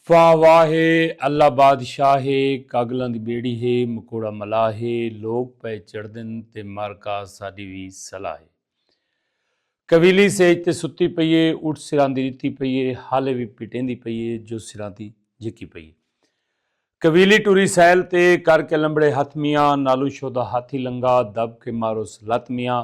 واہ واہ ہے اللہ بادشاہ ہے کاگلاں دی بیڑی ہے مکوڑا ملاح ہے لوک پئے چڑھدن تے مر کا ساڈی وی صلاح ہے کویلی سیج تے ستی پئی ہے اٹھ سراندی ڈتی پئی ہے حالے وی پٹیندی پئی ہے جو سراندی جھکی پئی ہے کویلی ٹری سیل تے کر کے لمبڑے ہتھ میاں نالوں شودا ہاتھی لنگا دب کے ماروس لت میاں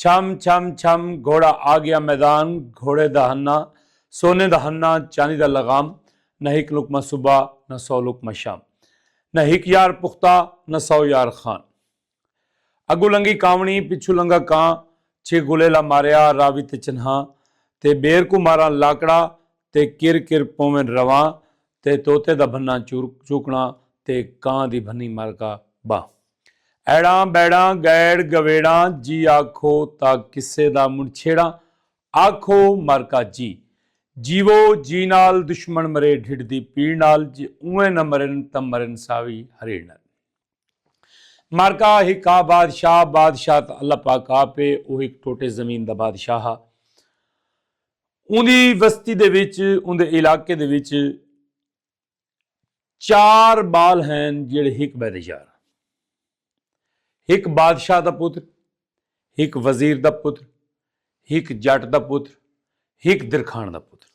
چھم چھم چھم گھوڑا آ گیا میدان گھوڑے دا ہنہ سونے دا ہنہ چاندی دا لغام نہ ہک لقمہ صبح نہ سو لقمہ شام نہ ہک یار پختہ نہ سو یار خان اگوں لنگھی کانوڑی پچھوں لنگھا کاں چھ غلیلا ماریا راوی تے چنہاں تے ٻیر کوں ماراں لاکڑا تے کر کر پوون رواں تے طوطے دا بھنہ چوکݨا تے کاں دی بھنی مارکا ٻانہہ۔ ایڑاں بیڑاں گئیڑ گویڑاں جی آکھو تاں قصے دا منڈھ چھیڑاں آکھو مر کا جی جیوو جی نال دشمن مرے ڈھڈ دی پیڑ نال جے اونویں نہ مرن تاں مرن ساوی ہریڑ نال مر کا ہکا بادشاہ بادشاہ تاں اللہ پاک آپ ہے او ہک ٹوٹے زمین دا بادشاہ ہا اوندی وستی دے وچ اوندے علاقے دے وچ چار بال ہین جیڑے ہک بے دے یار ہک بادشاہ دا پتر ہک وزیر دا پتر ہک جٹ دا پتر ہک درکھان دا پتر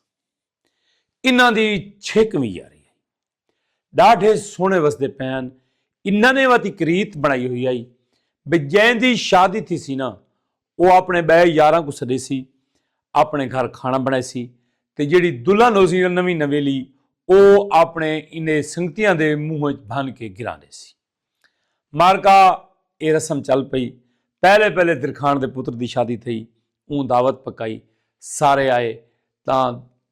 انہاں دی چھک وی یاری ہے ڈاڈھے سونے وسدے پین انہاں نے واتی کریت بنائی ہوئی آئی بے جین دی شادی تھی سی نا او آپݨے ٻئے یاراں کوں سݙیسی، آپݨے گھر کھاݨا بݨائیسی تے جیڑھی دلہن ہوسی یا نویں نویلی او آپݨے ایندے سنگتیاں دے منہ اچ بھن کے گراں ݙیسی۔ معرکہ اے رسم چل پئی۔ پہلے پہلے درکھاݨ دے پتر دی شادی تھئی۔ اوں دعوت پکائی۔ سارے آئے تاں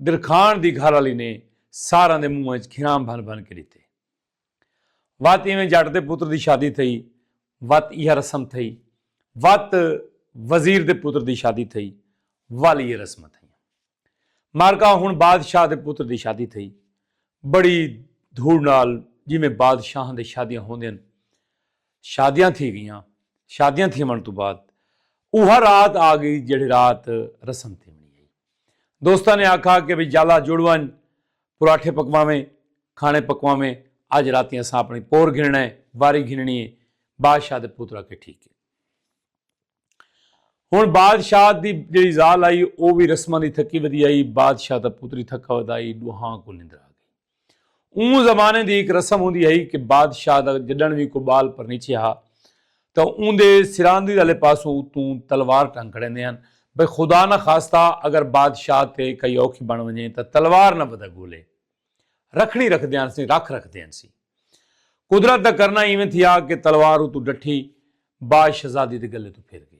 درکھاݨ دی گھر آلی نے ساراں دے منہ اچ گھراں بھن بھن کے ݙتے۔ وت ایویں جٹ دے پتر دی شادی تھئی وت ایہا رسم تھئی وت وزیر دے پتر دی شادی تھئی ول ایہا رسماں تھئیاں مارکا ہن بادشاہ دے پتر دی شادی تھئی بڑی دھوڑ نال جیویں بادشاہاں دے شادیاں ہوندین شادیاں تھی گئیاں شادیاں تھیوݨ توں بعد اوہا رات آ گئی جیہڑی رات رسم تھیوݨی ہئی دوستاں نے آکھا کہ بھئی جالا جڑ ونج پراٹھے پکواویں، کھانے پکواویں، اج راتی اساں اپنڑی پور گھنڑنا ہے، واری گھنڑنی ہے، بادشاہ دے پوتر آکھے ٹھیک ہے۔ ہنڑ بادشاہ دی جیڑھی زال آئی او وی رسماں دی تھکی ودی آئی، بادشاہ دا پوتر ہی تھکا ودا آئی، ڈوہاں کوں نندر آ گئی۔ اوں زمانے دی ہک رسم ہوندی ہئی کہ بادشاہ دا جڈنڑ وی کوئی بال پرنیچے ہا تاں اوندے سراندی آلے پاسو اتوں تلوار ٹنگ کھڑیندے ہن بھئی خدا نہ خواستہ اگر بادشاہ تے کئی اوکھی بݨ ونڄے تاں تلوار نہ ودھا گولے رکھݨی رکھدے ہنسی رکھ رکھدے ہنسی۔ قدرت دا کرنا ایویں تھیا کہ تلوار اتوں ڈٹھی باد شہزادی دے گلے توں پھر گئی۔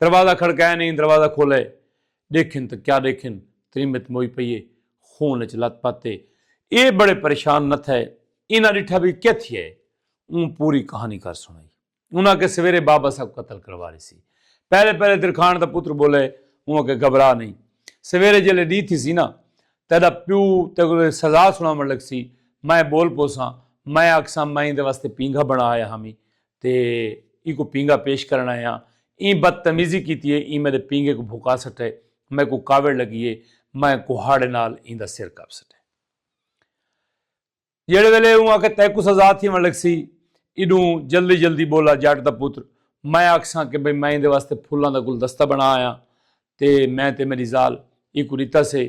دروازہ کھڑکائے نئیں دروازہ کھولئے ڈیکھن تاں کیا ڈیکھن تریمت موئی پئی اے خون اچ لت پت اے اے بڑے پریشان نہ تھئے انہاں ڈٹھا وی کے تھیا اے اوں پوری کہانی کر سنڑائی انہاں آکھیا سویرے بابا صاحب قتل کروا ریسی پہلے پہلے درکھان دا پتر بولئے اوں آکھیا گھبرا نئیں سویرے جیلے ڈی تھیسی نا تیڈا پیو تیکوں سزا سنڑاون لگسی میں بول پوساں میں آکھساں میں ایندے واسطے پینگھا بنڑا آیا ہامی تے ایکوں پینگا پیش کرݨ آیاں ایں بد تمیزی کیتی اے ایں میݙے پینگے کوں بھکا سٹئے میکوں کاوڑ لڳی اے میں کہاڑے نال ایندا سر کپ سٹئے جیڑھے ویلے اوں آکھے تیکوں سزا تھیوݨ لڳسی ایݙوں جلدی جلدی ٻولا جٹ دا پتر میں آکھساں کہ بھئی میں ایندے واسطے پھلاں دا گلدستہ بݨا آیاں تے میں تے میݙی ذال اینکوں ݙتا سے۔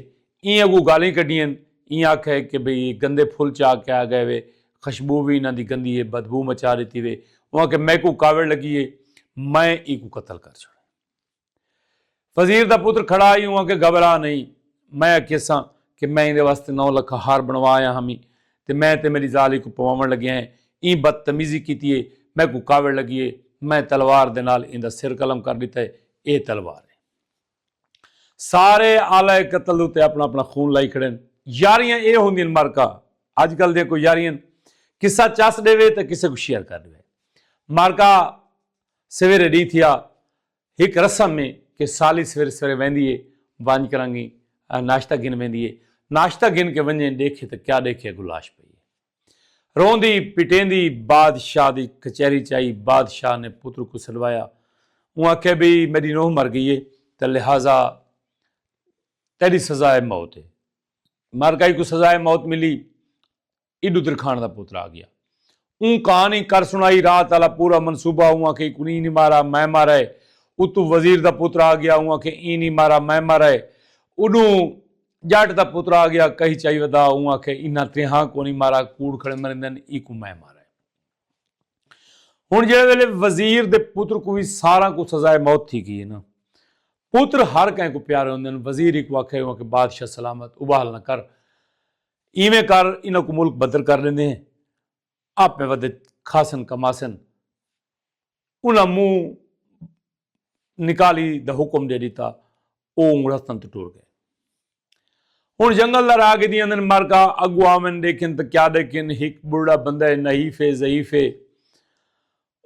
ایں اڳوں ڳالھیں کڈھیئن۔ ایں آکھا ہے کہ بھئی گندے پھل چا کے آ ڳئے وے۔ خشبو وی انہاں دی گندی ہے، بدبو مچا ݙتی وے۔ اوں آکھیا میکوں کاوڑ لڳی ہے، میں اینکوں قتل کر چھوڑاں۔ وزیر دا پتر کھڑا ہئی، اوں آکھیا گھبرا نئیں، میں آکھیساں کہ میں ایندے واسطے نو لکھاں ہار بݨوا آیا ہامی تے میں تے میݙی ذال اینکوں پواوݨ لڳے ہیں۔ ایں بد تمیزی کیتی ہے، میکوں کاوڑ لڳی ہے، میں تلوار دے نال ایندا سر قلم کر ݙتا ہے۔ اے تلوار ہے۔ سارے آلہ قتل اتے اپنا اپنا خون لائی کھڑے ہیں۔ یاریاں اے ہوندی ہیں مارکا آج کل دے کوئی یاریاں ہیں۔ کسہ چس دے وے تاں کسہ کو شیئر کر دے وے۔ مارکا سویرے ڈی تھیا۔ ہک رسم ہے کہ سالی سویرے سویرے ویندی ہے۔ وانج کرنگی ناشتہ گھن ویندی ہے۔ ناشتہ گھن کے ونجیں دیکھے تاں کیا دیکھے اگو لاش پئی ہے۔ روندی پٹیندی بادشاہ دی کچہری چ آئی بادشاہ نے پتر کوں سڈوایا اوں آکھیا بی میڈی نوح مر گئی ہے تاں لہذا تیڈی سزائے موت ہے مر گئی کوں سزائے موت ملی ایڈو درخان دا پتر آ گیا اوں کہانی کر سنائی رات والا پورا منصوبہ اوں آکھیا کوں نہیں مارا میں مارا ہے اتو وزیر دا پتر آ گیا اوں آکھیا ایں نہیں مارا میں مارا ہے اڈوں جٹ دا پتر آ گیا کہی چائی ودا اوں آکھے انہاں تریہاں کونی مارا کوڑ کھڑے مریندن ایکوں میں مارا ہن جڑے ویلے وزیر دے پتر کو وی ساراں کو سزائے موت تھی گئی ہے نا پتر ہر کہیں کو پیارے ہوندن وزیر ایکو آکھے ہوا کہ بادشاہ سلامت اباہل نہ کر ایویں کر انہاں کو ملک بدر کر لیندے ہیں آپ میں ودے کھاسن کماسن انہاں منہ نکالی دا حکم ڈے ڈتا۔ او رستن توں ٹر گئے۔ ہن جنگل دا راہ گھدی آندن مرکا اگو آون ڈیکھن تاں کیا ڈیکھن ہک بڑھڑا بندہ ہے نحیف ہے ضعیف ہے۔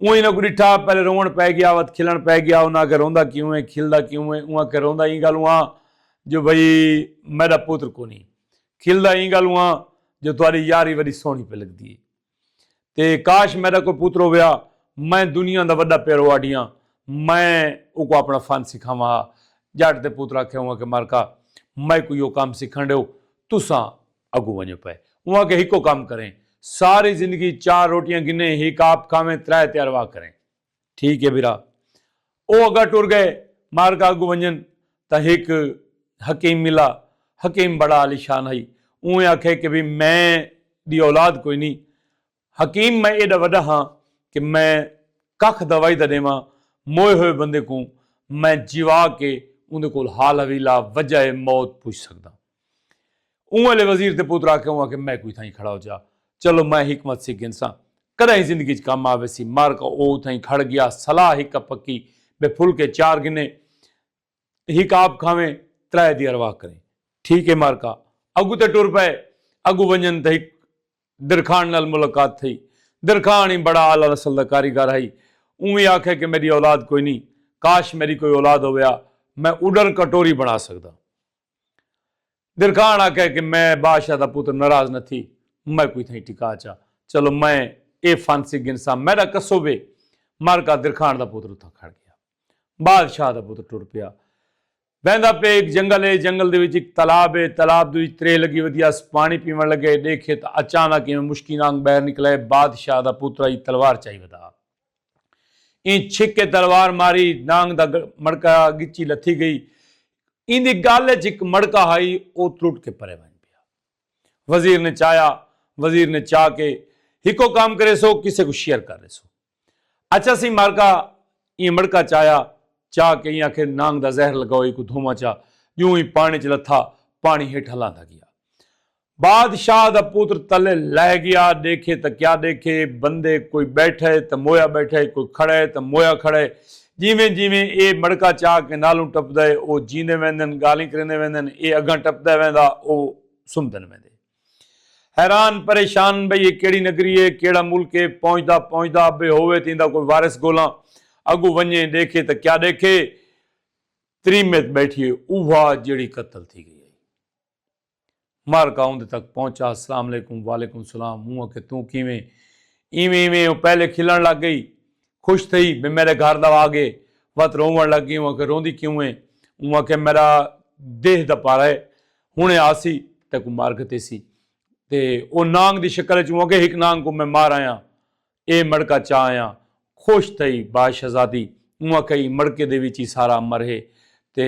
اوں انہاں کوں ڈٹھا پہلے روون پے گیا وت کھلن پے گیا انہاں آکھیا روندا کیوں ہے کھلدا کیوں ہے اوں آکھیا روندا ایں گالوں ہاں جو بھئی میڈا پتر کونی کھلدا ایں گالوں ہاں جو تہاڈی یاری وڈی سوہنی پے لگدی ہے۔ تے کاش میڈا کوئی پتر ہویا میں دنیا دا وڈا پیرو آڈیاں میں اوکوں اپنا فن سکھاواں ہا جٹ دے پتر آکھیا اوں آکھیا مارکا میکوں یو کم سکھن ڈیو تساں اگوں ونجو پئے اوں آکھیا ہکو کم کریں ساری زندگی چار روٹیاں گھنیں ہک آپ کھاویں ترے تیارواہ کریں۔ ٹھیک ہے بھرا۔ او اگا ٹر گئے۔ مار کا اگوں ونجن تاں ہک حکیم ملا۔ حکیم بڑا عالی شان ہئی۔ اونویں آکھے کہ بھئی میں دی اولاد کوئی نی۔ حکیم میں ایڈا وڈا ہاں کہ میں ککھ دوائی دا ڈیواں موئے ہوئے بندے کوں میں جیوا کے اوندے کول حال حویلہ وجہ موت پچھ سکداں۔ اوں ویلے وزیر تے پتر آکھے اوں آکھے میں کوئی تھائیں کھڑا ہو جا چلو میں حکمت سی گھنساں کڈاہیں زندگی اچ کم آ ویسی مر کا او اتھائیں کھڑ گیا صلاح ہک ا پکی بے پھلکے چار گھنے ہک آپ کھاویں ترائے دی ارواح کریں ٹھیک اے مر کا اگو تے ٹر پئے اگو ونجن تے ہک درکھان نال ملاقات تھئی درکھان ای بڑا اعلی نسل دا کاریگر ہئی اوں وی آکھے کہ میڈی اولاد کوئی نی کاش میڈی کوئی اولاد ہویا میں اڈر کٹوری بنا سکدا۔ درکھان آکھے کہ میں بادشاہ دا پتر ناراض نہ تھی میں کوئی تھائی ٹکا چا چلو میں اے فانسی گھنساں میڈا کسو وے مارکا درکھان دا پتر اتھاں کھڑ گیا بادشاہ دا پتر ٹر پیا ویندا پے ایک جنگل ہے جنگل دے وچ ایک تالاب ہے تالاب دے وچ ترے لگی ودیا اس پانی پیون لگے دیکھے تا اچانک ایویں مشکی نانگ بہر نکلے بادشاہ دا پتر ای تلوار چائی ودا ایں چھکے تلوار ماری نانگ دا مڑکا گچی لتھی گئی۔ ایندی گل اچ ہک مڑکا ہئی او ترٹ کے پرے ونج پیا۔ وزیر نے چایا۔ وزیر نے چا کے ہکو کم کریسو کسے کوں شیئر کر ریسو۔ اچھا سی مارکا ایہ مڑکا چایا۔ چا کے ایہ آکھے نانگ دا زہر لگاؤ ایکوں دھوواں چا۔ ڈیوں ای پانڑی اچ لتھا۔ پانڑی ہیٹھاں لاندا گیا۔ بادشاہ دا پتر تلے لہہ گیا ڈیکھے تاں کیا ڈیکھے بندے کوئی بیٹھا ہے تاں مویا بیٹھا ہے کوئی کھڑا ہے تاں مویا کھڑا ہے جیویں جیویں اے مڑکا چا کے نالوں ٹپدا ہے او جیندے ویندن گالیں کریندے ویندن اے اگاں ٹپدا ویندا او سمدن ویندے حیران پریشان بھئی اے کیڑی نگری ہے کیڑا ملک ہے پہنچدا پہنچدا ابے ہووے تے ایندا کوئی وارث گولاں اگوں ونجے ڈیکھے تاں کیا ڈیکھے تریمت بیٹھی ہے اوہا جیڑھی قتل تھی گئی مر گا اوندے تک پہنچا اسلام علیکم وعلیکم السلام موں آکھیا توں کیویں ایویں ایویں او پہلے کھلن لگ گئی خوش تھئی میں میڈے گھر دا آگے وت روون لگ گئی اوں آکھیا روندی کیوں ایں اوں آکھیا میڈا دیہہ دا پارا اے ہنڑے آسی تیکوں مار گھتیسی تے او نانگ دی شکل اچ اوں آکھیا ہک نانگ کوں میں مار آیاں اے مڑکا چا آیاں خوش تھئی با شہزادی اونہاں کئی مڑکے دے وچ ہی سارا مرہے تے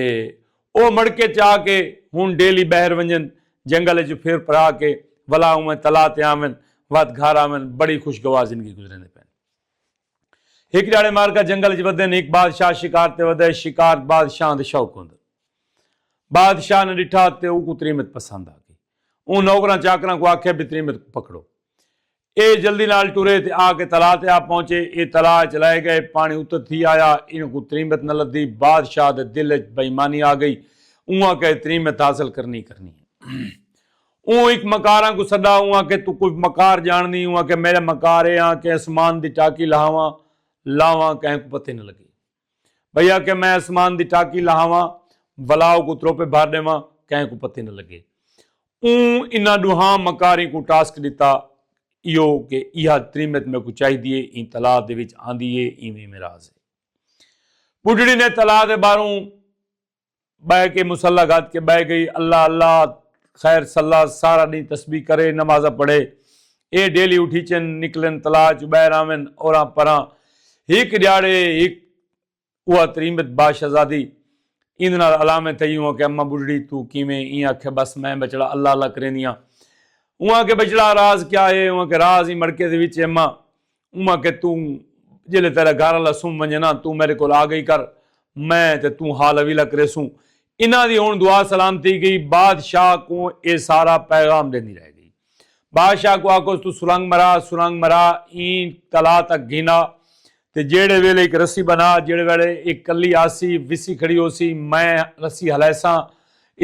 او مڑکے چا کے ہن ڈیلی بہر ونجن جنگل اچ پھر پھرا کے ولا اونویں تلا تے آون وت گھر آون بڑی خوشگوار زندگی گزریندے پئن ہک ڈیہاڑے مارکا جنگل اچ ودن ہک بادشاہ شکار تے ودے شکار بادشاہاں دے شوق ہوندن بادشاہ نے ڈٹھا تے اوکوں تریمت پسند آ گئی اوں نوکراں چاکراں کوں آکھیا بی تریمت کوں پکڑو اے جلدی نال ٹرے تے آ کے تلا تے آ پہنچے۔ اے تلا اچ لہے گئے۔ پانڑی اتت تھی آیا۔ اینہہ کوں تریمت نہ لدھی۔ بادشاہ دے دل اچ بے ایمانی آ گئی۔ اوں آکھے تریمت حاصل کرنی کرنی ہے۔ اوں ہک مکاراں کوں سڈا۔ اوں آکھے توں کوئی مکار جانڑدی؟ اوں آکھے میڈے مکار اے ہاں کہ اسمان دی ٹاکی لہاواں لاواں کہیں کوں پتہ نہ لگے۔ بھئی آکھیا میں اسمان دی ٹاکی لہاواں ولا اوکوں تروپے بھر ݙیواں کہیں کوں پتہ نہ لڳے۔ اوں انہاں ݙوہاں مکاریں کوں ٹاسک ݙتا ایہو کہ ایہا تریمت میکوں چاہیدی اے ایں تلاء دے وچ آندی اے ایویں ایویں راز اے۔ ٻڈھڑی نے تلاء دے ٻاہروں بہ کے مصلی گھد کے بہ گئی اللہ اللہ خیر صلی سارا ڈی تسبیح کرے نماز پڑھے اے ڈیلی اٹھی چن نکلن تلا چ بہ راون اوراں پراں ہک ڈیاڑے ہک اوہ تریمت با شہزادی ایند نال علامے تھئی اوہ کہ اماں بڈھڑی تو کیویں ایں آکھے بس میں بچڑا اللہ اللہ کریندیاں اوہ کہ بچڑا راز کیا ہے اوہ کہ راز ہی مڑکے دے وچ اماں اوہاں آکھیا توں جیلے تیڈا گھر آلا سم ونجے نا توں میڈے کول آ گئی کر میں تے توں حال حویلہ کریسوں۔ انہاں دی ہن دعا سلام تھی گئی بادشاہ کوں ایہ سارا پیغام ڈیندی رہ گئی۔ بادشاہ کوں آکھوس توں سرنگ مرا سرنگ مرا ایں قلعہ تک گھن آ تے جیڈے ویلے ہک رسی بنا جیڈے ویلے ایہ کلی آسی وسی کھڑی ہوسی میں رسی ہلیساں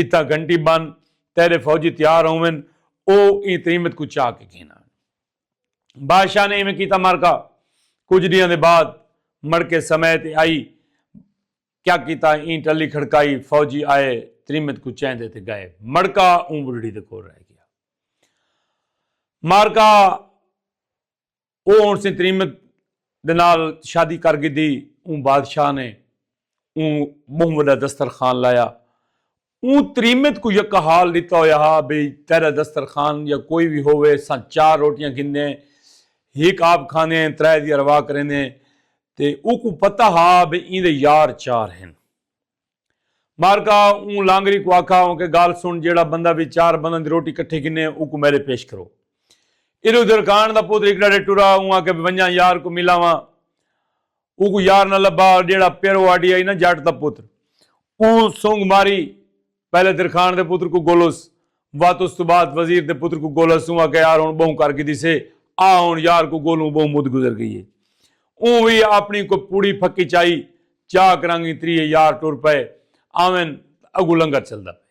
اتھاں گھنٹی بن تیڈے فوجی تیار ہوون او ایں تریمت کوں چا کے گھن آون۔ بادشاہ نے ایویں کیتا مارکا کچھ ڈیاں دے بعد مڑ کے سمے تے آئی کیا کیتا این ٹلی کھڑکائی فوجی آئے تریمت کو چین دے تے گئے مڑکا اون بڑھڑی دے کول رہ گیا مارکا او اون سے تریمت دے نال شادی کر گی دی اون بادشاہ نے اون بہن وڈا دسترخوان لایا اوں تریمت کوں یکا حال ݙتا ہویا ہا بھئی تیݙا دسترخوان یا کوئی وی ہووے اساں چار روٹیاں گھندیں ہک آپ کھاندیں ترائے دی ارواح کریندیں تے اوکوں پتہ ہا بھئی ایندے یار چار ہن مارکا اوں لانگری کوں آکھا اونکے گالھ سݨ جیڑھا بندہ وی چار بنداں دی روٹی کٹھی گھنے اوکوں میݙے پیش کرو ادھر ادھر کاݨ دا پتر ہک ݙاڈھے ٹرا اوں آکھیا بھئی ونڄاں یار کوں ملاواں اوکوں یار نہ لبھا جیڑھا پیر واڈی آئی نہ جٹ دا پتر اوں سنگ ماری پہلے درخان دے پتر کوں گولس وت اس توں بعد وزیر دے پتر کوں گولس اوں آکھیا یار ہن بہوں کر گھدی سے آ ہن یار کوں گولوں بہوں مد گزر گئی ہے اوں وی اپنی کوئی پوڑی پھکی چائی چاک رنگ اتری ہے یار ٹر پئے آون تاں اگوں لنگر چلدا پئے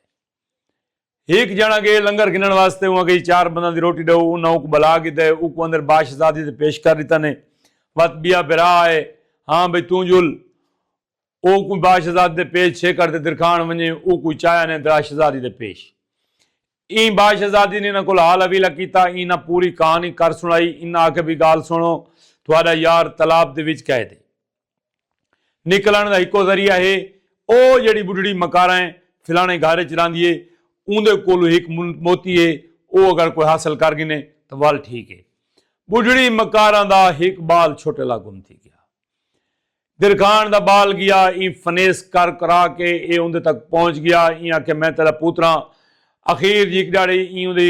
ہیک جݨا ڳئے لنگر گھنݨ واسطے اوں اڳئی چار بنداں دی روٹی ݙو انہاں اونکوں بلا گھدے اونکوں اندر باشزادی تے پیش کر ݙتا نے وت ٻیا بھرا آئے ہاں بھئی توں جل اونکوں باشزادی دے پیش چھیکڑ تے درکھاݨ ونڄے اونکوں چایا نے دراشزادی دے پیش ایں باشزادی نے انہاں کول حال حویلہ کیتا انہاں پوری کہانی کر سݨائی انہاں آکھے بھئی ڳال سݨو تہاݙا یار تالاب دے وچ قید ہے۔ نکلنڑ دا ہکو ذریعہ ہے۔ او جیڑھی بڈھڑی مکارا ہے فلانے گھر اچ راہندی ہے اوندے کولوں ہک موتی ہے او اگر کوئی حاصل کر گھنے تاں ول ٹھیک ہے۔ بڈھڑی مکارا دا ہک بال چھوٹے لا گم تھی گیا۔ درکھان دا بال گیا ایں فنیس کر کرا کے اے اوندے تک پہنچ گیا ایں آکھیا میں تیڈا پوتراں اخیر جی ہک ڈیہاڑے ایں اوندے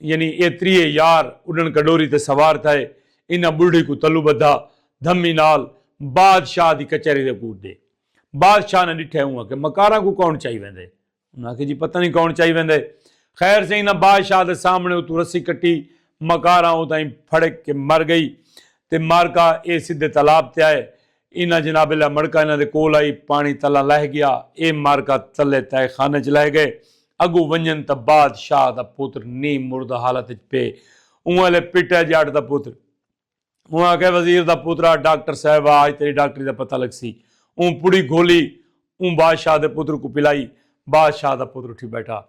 یعنی اے تریہے یار اڈن کڈوری تے سوار تھئے انہاں بڈھڑی کوں تلو بدھا دھمی نال بادشاہ دی کچہری دے کوٹ ڈے بادشاہ نے ڈٹھے اوں آکھے مکاراں کوں کون چائی ویندے انہاں آکھے جی پتہ نہیں کون چائی ویندے خیر سے انہاں بادشاہ دے سامنے اتو رسی کٹی مکاراں اتائیں پھڑک کے مر گئی تے مارکا اے سدھے تالاب تے آئے انہاں جناب علیہ مڑکا انہاں دے کول آئی پاݨی تلاں لہہ گیا اے مارکا تلے تہہ خانہ اچ لہہ گئے اگوں ونجن تاں باد شاہ دا پتر نیم مردہ حالت اچ پے اوں الے پٹہ جاٹ دا پتر اوں آکھے وزیر دا پترا ڈاکٹر صاحب آ اج تیری ڈاکٹری دا پتہ لگسی اوں پڑی گھولی اوں باد شاہ دے پتر کوں پلائی باد شاہ دا پتر اٹھی بیٹھا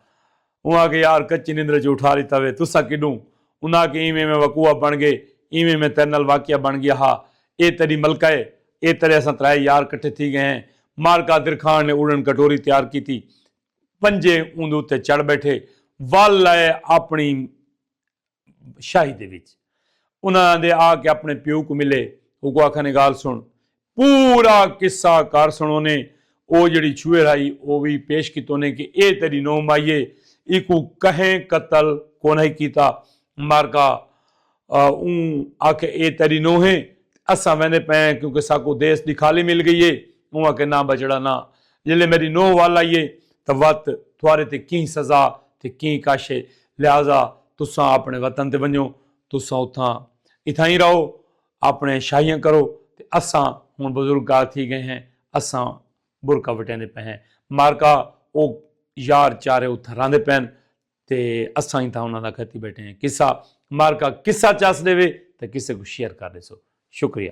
اوں آکھیا یار کچی نندرے چوں اٹھا ڈتا وے تساں کڈوں انہاں آکھیا ایویں میں وقوع بن گئے ایویں میں تیڈے نال واقعہ بن گیا ہا اے تیڈی ملکہ اے اے تیڈے اساں ترائے یار کٹھے تھی گئے ہیں مار قادر خان نے اڑن کٹوری تیار کیتی پنجے اوندے اتے چڑھ بیٹھے ول اے اپنی شاہی دے وچ انہاں آندے آ کے اپنے پیو کو ملے اوکو آکھانے گال سن پورا قصہ کر سنونے او جڑی چھوئے رائی او وی پیش کیتونے کہ اے تیری نو مائیے ایکو کہیں قتل کونہی کیتا مارکا اوں آکھے اے تیری نو ہیں اساں ویندے پئیں کیونکہ ساکو دیس دی خالی مل گئی ہے اوں آکھے نا بچڑا نا جلے میری نو وال آئیے تاں وت تھوارے تے کیں سزا تے کیں کش ہے لہذا تساں آپݨے وطن تے ونڄو، تساں اتھاں اتھائیں رہو، آپݨیاں شاہیاں کرو تے اساں ہݨ بزرگار تھی ڳئے ہیں، اساں برکہ وٹیندے پئے ہیں۔ مارکا او یار چارے اتھاں رہندے پئن تے اساں اتھاں انہاں دا کھتی ٻیٹھے ہیں۔ قصہ، مارکا قصہ چس ݙیوے تاں قصے کوں شیئر کر ݙیسو۔ شکریہ۔